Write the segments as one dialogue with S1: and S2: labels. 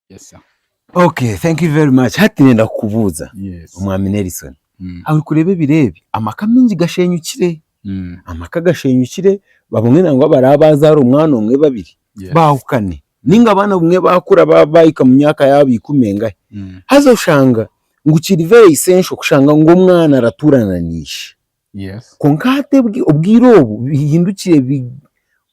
S1: Yes, sir. Okay, thank you
S2: very much. Hati nenda kukubuuza Yes. omwami
S1: Nelson.
S2: Mm. Aho orikureeba ebiro ebi amaka mingi gashenyukire. Mm. Amaka gashenyukire abamwe nangwa abaraba baazaara omwana omwe babiri Yes. baahukane. Ninga abaana obumwe baakura ba- baahika mu myaka yaabo ikumi engahe. Mm. Haza oshanga ngu kiri very essential kushanga ngu omwana aratuurana na ishe. Yes.
S1: Kwonka hati obwi-
S2: obwire obu bihindukire bi-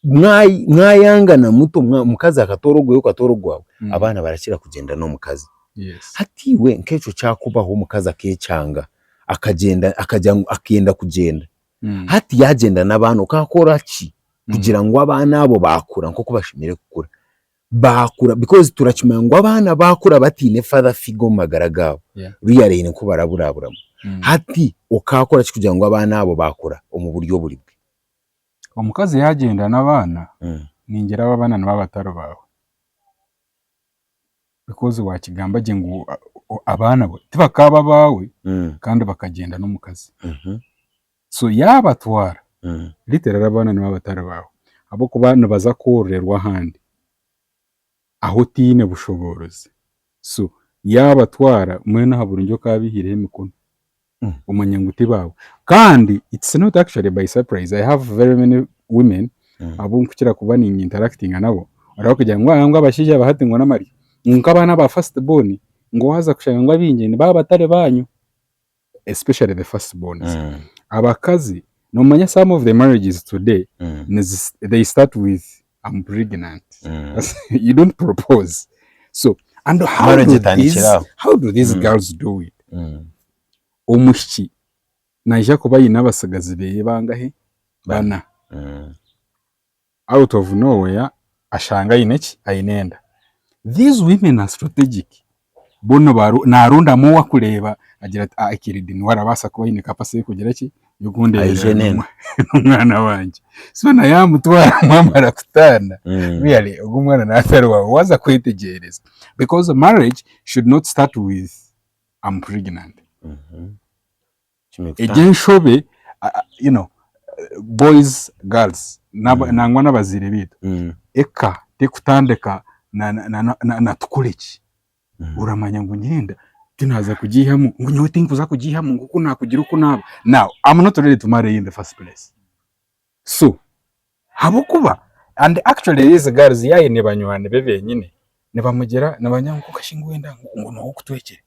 S2: mwa- mwayangana muto mwa- omukazi akatoora ogwe okatoora ogwaawe, Mm. abaana barakira kugyenda n'omukazi. Yes. Hati
S1: iwe nk'ekyo
S2: kyakubaho omukazi akeecanga, akagyenda akagya ngu akenda kugyenda, Mm. hati yaagyenda n'abaana okaakora ki Mm. kugira ngu abaana abo baakura nk'oku bashemereire kukura? baakura because turakimanya ngu abaana baakura bataine father figure omu magara gaabo Yeah. rearing nku baraburaburamu. Mm. Hati okaakora ki kugira ngu abaana abo baakura omu buryo oburi bwe? Omukazi
S1: yaagyenda n'abaana, Mm. ningira abo abaana nibo abatari baawe. Because waakigamba gye ngu o- abaana bo tibakaaba abaawe Mm. kandi bakagyenda n'omukazi. Mhm. So yaabatwara, literally abaana nibo abatari baawe ahabw'okuba nibaza kwororerwa ahandi ahu otaine bushoboorozi. So yaabatwara, mbwenu aha burungi oku abaihaireho emikono omanye ngu ti baawe. Kandi it's not actually by surprise, I have very many women abu nkukira kuba ni interactinga nabo, oraabakugira ngu ahaa ngu abashaija ba hati ngu n'amaryo, ngu nk'abaana ba first born, ngu waaza kushanga ngu abaingi ni baabatari baanyu. especially the first borns Mm. abakazi nomanya some of the marriages today Mm. nizi- they start with I'm pregnant Mm. you don't propose so and how Marriage do etandikira these, aho. how do these Mm. girls do it Mm. omwishiki naija kuba aine abatsigazi beye bangahe Bana. bana Mm. Out of no where ashanga aine ki? Aine enda. These women are strategic. Bo nibaru narondamu owa kureeba agira ati ah Ekiridi niwe arabaasa kuba aine capacity y'okugira ki? Y'okundeeberera Aije n'enda. n'omwana wangye. So na yamutwara mwamara kutaana Mm. really ogu omwana natari waawe waaza kwetegyereza. Because marriage should not start with I'm pregnant. Mhm. Egyo enshobe you know boys girls nangwa nabaziire beitu eka tekutandika na tukore ki oramanya ngu nyenda tinaaza kugiihamu ngu nyowe tinkuza kugiihamu ngu kunakugira oku naaba now am not ready to marry you in the first place. So habwokuba and actually these girls yaine banywani be benyine nibamugira nibanya ngu okashee ngu wenda ngu niwe okutwekire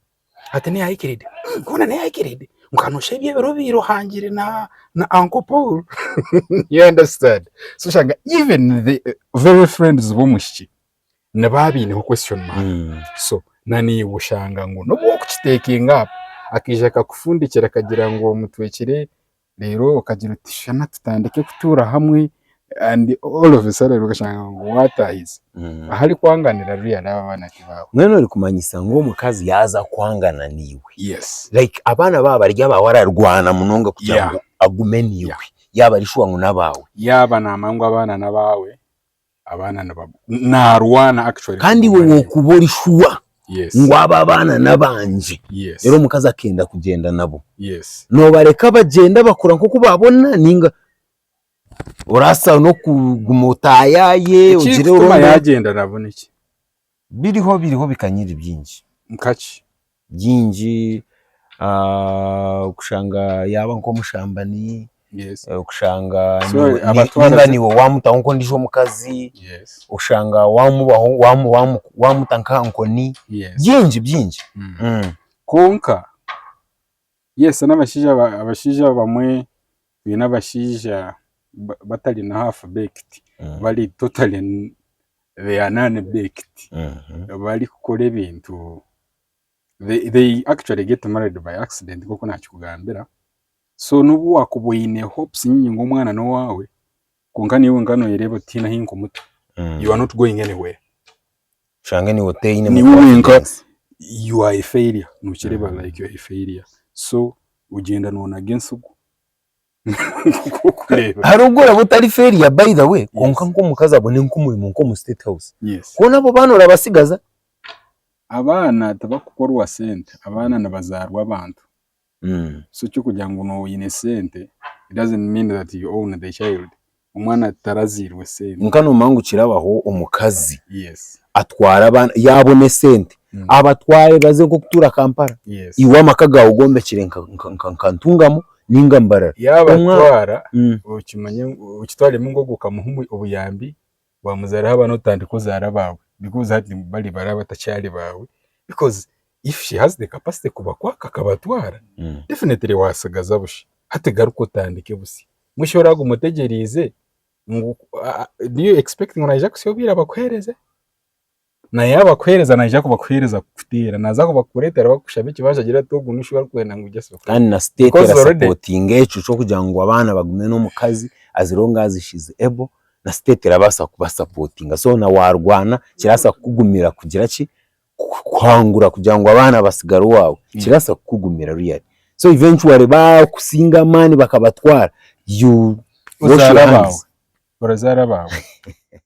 S1: hati niwe ayikiride koona niwe ayikiride nka noshusha ebyo ebiro ebibire ohangire na uncle Paul you understand so oshanga even the very friends b'omwishiki nibo abaineho question mark so na naiwe oshanga ngu nobu orikukitekinga up akaija akakufundikira akagira ngu omutwekire Reero okagira oti shana tutandike kutuura hamwe and all of a sudden okashanga ngu waataahize. Ahari kwanganira reero yaraaba abaana tibaawe. Mbwenu orikumanyisa ngu
S2: omukazi yaaza kwangana naiwe, Yes. like
S1: abaana baaba
S2: bari abaawe ararwana munonga kugira Yeah. ngu agume naiwe, yaaba ari shuwa ngu n'abaawe. Yaaba naamanya ngu
S1: abaana n'abaawe. abaana niba naarwana actually Kandi iwe kumumanya. wokuba ori
S2: shuwa yes ngu abo
S1: abaana
S2: n'abangye yes reero omukazi
S1: akenda
S2: kugyenda nabo yes nobareka
S1: bagyenda
S2: bakora nkoku babona ninga orasa nokuguma otayaye Ekiri ogire kutuma orondore yagyenda nabo
S1: niki? Biriho
S2: biriho bikanyiri byingi. Nka ki?
S1: Byingi,
S2: kushanga yaaba nk'omushambani,
S1: kushanga
S2: niba
S1: niiwe waamutaho
S2: nk'ondiijo omukazi, kushanga waamuta nk'aha nkoni, byingi byingi.
S1: Kwonka. Yes n'abashaija abashaija abamwe twine abashaija batari na half baked bari totally they are non baked barikukora ebintu they they actually get married by accident nk'oku naakikugambira so n'obu waakuba oine hopes nyingi ngu omwana n'owaawe kwonka naiwe wenka nooyereeba oti tihaine ahu nkumuta you are not going anywhere. oshange
S2: niiwe otaine mu niiwe wenka confidence.
S1: you are a failure nokireeba like you are a failure so ogyenda nonaga entsigu nk'okureeba
S2: hariho ogu oraba otari failure by the way kwonka Yes. nk'omukazi abone nk'omurimo nk'omu state house yes koona abo baana
S1: orabatsigaza abaana tibakukorwa sente abaana nibazaarwa abantu So ekyokugira ngu nooba oyine sente it doesn't mean that you own the child, omwana
S2: taraziirwe
S1: sente.
S2: Kwonka nomanya
S1: ngu kirabaho omukazi Yes,
S2: atwara abaana, yaabona esente Mm. abatware baze nk'okutuura Kampala, yes. iwe amaka gaawe ogombekire nka- nka- nka- nka Ntungamo ninga Mbarara. Omwa- Yaabatwara
S1: Mm. okimanye ngu okitwaremu ngu ogwo okamuha omu- obuyambi Wamuzaaraho abaana otandika ozaara abaawe because hati bari baraba batakyari baawe because if she has the capacity kubakwaka akabatwara definitely waasigaza busha. Hati garuka otandike busya. Musha oraagume otegyereize ngu do you expect ngu naija kusya obwire abakuheereze? Na yaaba akuheereza naija kubakuheereza kukuteera. Naaza kubakureetera bakushaba ekibazo agira ati ogu n'oshi barikwenda ngu ogyese oku. Kandi na state Because already-
S2: erasapotinga ekyo ky'okugira ngu abaana bagume n'omukazi as long as she is able na state erabaasa kubasapotinga so na waarwana kirabaasa kukugumira kugira ki ku- kuhangura kugira ngu abaana batsigare owaawe kirabaasa kukugumira really so eventually baakusinga amaani bakabatwara
S1: you
S2: wash Ozaara your abaawe. hands.
S1: Orazaara
S2: abaawe.